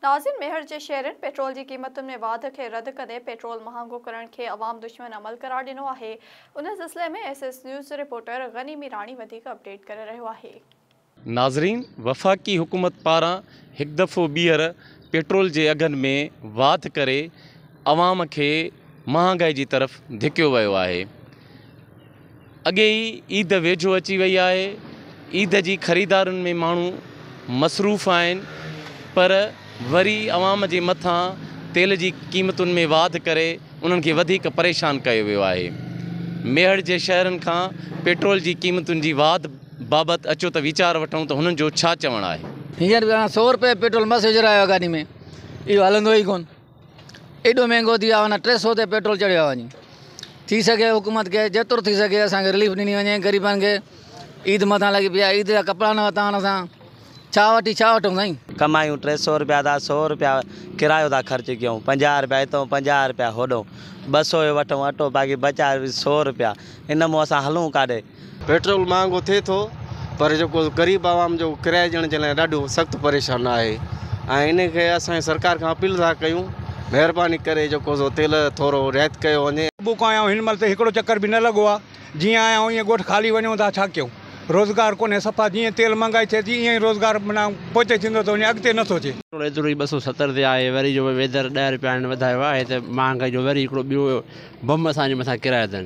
ناظم ميهڙ جي شعرن پيٽرول جي قيمتن ۾ واڌ کي رد ڪندي پيٽرول مهانگو ڪرڻ کي عوام دشمن عمل قرار ڏنو آهي. ان سلسلي ۾ S S news reporter Ghani Mirani وڌيڪ اپڊيٽ ڪري رهيو آهي. ناظرين وفاقي حڪومت پاران هڪ دفعو ٻيهر پيٽرول جي اگهن ۾ واڌ ڪري عوام کي مهانگائي جي طرف ڌڪيو ويو آهي اڳي ئي عيد ويجهو اچي وئي آهي، عيد جي خريدارين ۾ ماڻهو مصروف آهن پر وري عوام جي مٿان تيل جي قيمتن ۾ واڌ ڪري انهن کي وڌيڪ پريشان ڪيو ويو آهي. ميهڙ جي شهرين کان پيٽرول جي قيمتن جي واڌ بابت اچو ته ويچار وٺون ته هنن جو ڇا چوڻ آهي. هينئر به هاڻ سؤ روپيه پيٽرول مس وجهرايو آهي گاڏي ۾ اهو هلندو ئي ڪون. ايڏو مهنگو ٿي ويو آهي نه ٽي سئو تي پيٽرول چڙهيو آهي وڃي ٿي سگهي حڪومت کي جيترو ٿي سگهي اسان کي رليف ڏني وڃي غريبن کي عيد مٿان لڳي پئي آهي عيد جا ڪپڙا نه ورتا آهن اسان ڇا وٺي ڇا وٺون سائين ڪمايون ٽي سئو روپيا ٿا سئو روپيا ڪرايو ٿا خرچ ڪيون پنجاهه روپيا هتو پنجاهه روپيا هوڏو ٻه سئو جو وٺون اٽو باقي ٻه چار سئو روپيا ان مون اسان هلون ڪاڏي پيٽرول مهانگو ٿئي ٿو پر جيڪو غريب عوام جو ڪرايو ڏيڻ جي لاء ڏاڍو سخت پريشان آهي ۽ ان کي اسان سرڪار کان اپيل ٿا ڪيون مهرباني ڪري جيڪو سو تيل ٿورو رعايت ڪيو وڃي. صبح کان آيا آهيون هن مهل تائين هڪڙو چڪر به نه لڳو آهي جيئن آيا آهيون ايئن ڳوٺ خالي وڃون ٿا ڇا ڪيون روزگار ڪونهي صفا جيئن تيل مهانگائي ٿئي ٿي ايئن روزگار معنيٰ پوئتي ٿيندو ٿو وڃي اڳتي نه ٿو اچي. پيٽرول ايترو ئي ٻه سؤ ستر تي آهي وري جو ويڌر ڏهه روپيا هنن وڌايو آهي ته مهانگائي جو وري هڪڙو ٻيو بم اسان جي مٿان ڪرايو اٿن.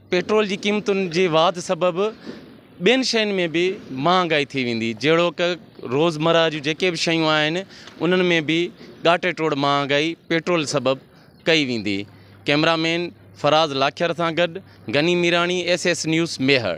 پيٽرول جي قيمتن جي واڌ سبب ٻين شين ۾ به مهانگائي ٿي ويندي جهڙوڪ روزمره جون جيڪي به شيون آهن انهن ۾ به ڳاٽي ٽوڙ مهانگائي پيٽرول سبب ڪئي ويندي ڪئميرا مين فراز لاکير سان گڏ Ghani Mirani S S news Mehar